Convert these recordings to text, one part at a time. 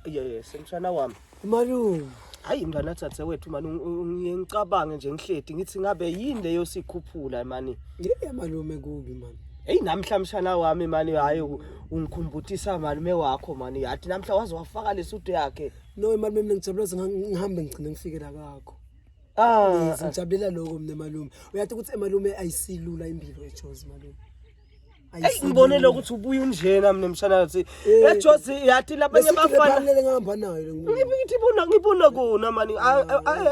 Yes, mshana wami. Malume. Hayi mntwana thathe wethu mani ngicabange nje ngihledi ngithi ngabe yini leyo sikhuphula mani. Yini malume kubi mani. Hey namhla mshana wami mani hayi ungikhumbutisa malume wakho mani yathi namhla waze wafaka lesudu yakhe. No malume mina ngijabula ngihambe ngigcine ngifike la kakho. Ah, ngijabulela lokho mina malume. Uyathi ukuthi emalume ayisilula impilo eJozi malume. eyi ngibonele ukuthi ubuye unjena mina mshanathi eh, ejozi yathi labanye bafanele ngihamba nayo ngithi bona ngibona kona mani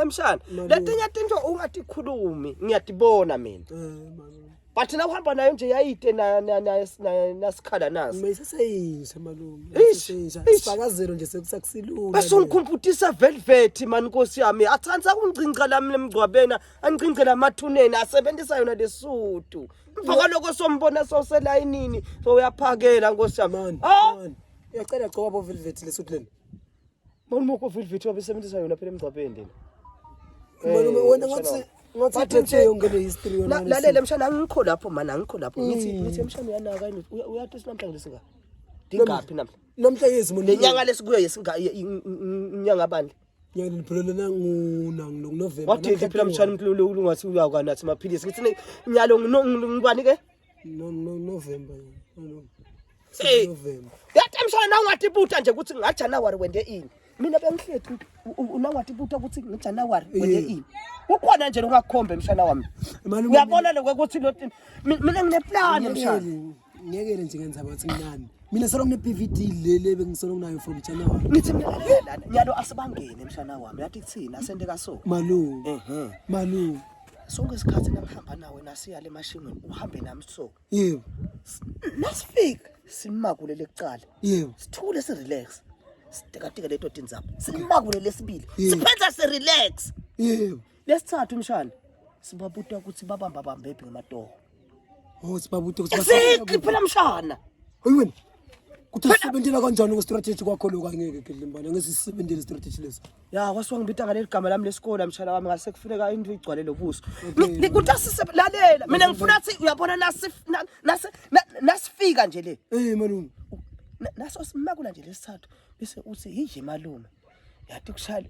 emshana letinye tinto ungatikhulumi ngiyatibona mina eh, but na uhamba nayo nje yayide nasikhala naso mayiseseyinja malume isifakazelo nje sekusakusilula bese ungikhumputisa velvet mani nkosi yami athanda kungcinca lami lemgcwabena angcince lamathuneni asebenzisa yona lesudu Phaka lokho sombona soselayinini so uyaphakela nkosi yamani. Ah! Uyacela gcoba bo velvet lesuthu leli. Mawuni moko velvet wabesebenzisa yona phela emgcwabeni lena. Malume Eh, wena ngathi ngathi Bathi ithethe nje- yonke le history yona. La- ngaleso- Lalela mshana angikho lapho mani angikho lapho. Ngithi Mm. ngithi mshana uyanaka yini? Uya- uyathi sinamhlanje lesinga. Dingaphi namhlanje? Namhla yezimo Lenyanga lesikuyo yesinga inyanga bandla. Nyanga niphelele nanguna nginonovemba. Wathi ngiphila mshana umlulu ulungathi uyakanathi maphilisi. Ngithini nyalo ngibani ke? No no November. No. Hey. November. Yathi mshana nawe ngathi ibuta nje ukuthi nga January wende ini. Mina bengihlethi unangathi ibuta ukuthi ngi January wende ini. Ukhona nje ungakhombe mshana wami. Uyabona lokho ukuthi mina ngineplan mshana. ngeke nje ngenza bathi mnani mina solo ngine BVD lele bengisolo nginayo from China wami ngithi mina yalo asibangene mshana wami yathi kuthina asende kaso malu ehe malu sonke isikhathi namhamba nawe nasiya le mashimini uhambe nami so yebo nasifika simakule lecala yebo sithule si relax sitekatike leto tinzaba simakule lesibili siphenza si relax yebo lesithathu umshana sibabuta ukuthi babamba bambephi ngamatoho oh sibabuta ukuthi exactly phela mshana ayiweni kuthi sisebenzela kanjani ku strategy kwakho lo kangeke kidlimbana ngeke sisebenzele strategy lesi ya kwasuka ngibita ngale ligama lami lesikole mshana wami ngase kufuneka into igcwale lobuso kuthi asiselalela mina ngifuna ukuthi uyabona nasi nasi nasifika nje le eh malume naso simakula nje lesithathu bese uthi yinje malume yathi kushayela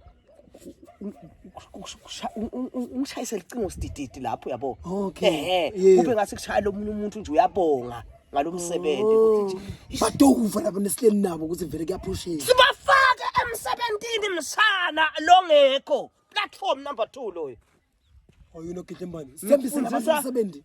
ungishayise licingo sidididi lapho yabo okay kube ngase kushayela omunye umuntu nje uyabonga ngalo msebenzi ukuthi oh. badokuva labo nesileni nabo ukuthi vele kuyaphushela sibafake emsebenzini msana longekho platform number 2 loyo oyilo gidle mbani sembisela abantu umsebenzi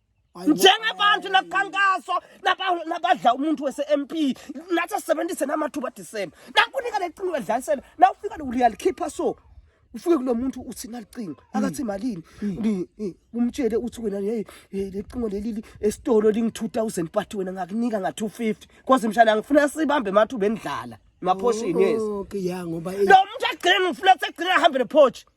njengabantu nakukhankaso nabadla umuntu wese-mp nathi asisebenzise namathuba adisemba nakunika lecingo edlalisela nawufika uyalikhipha so ufike kulo muntu uthi nalicingo hmm. akathi malini hmm. umtshele uthi wena hey lecingo leli esitolo lingi 2000 but wena ngakunika nga 250 kwaze mshana ngifuna sibambe emathuba endlala emaphoshini yes okay ya ngoba lo muntu agcina ngifuna sekugcina ahambe nephoshi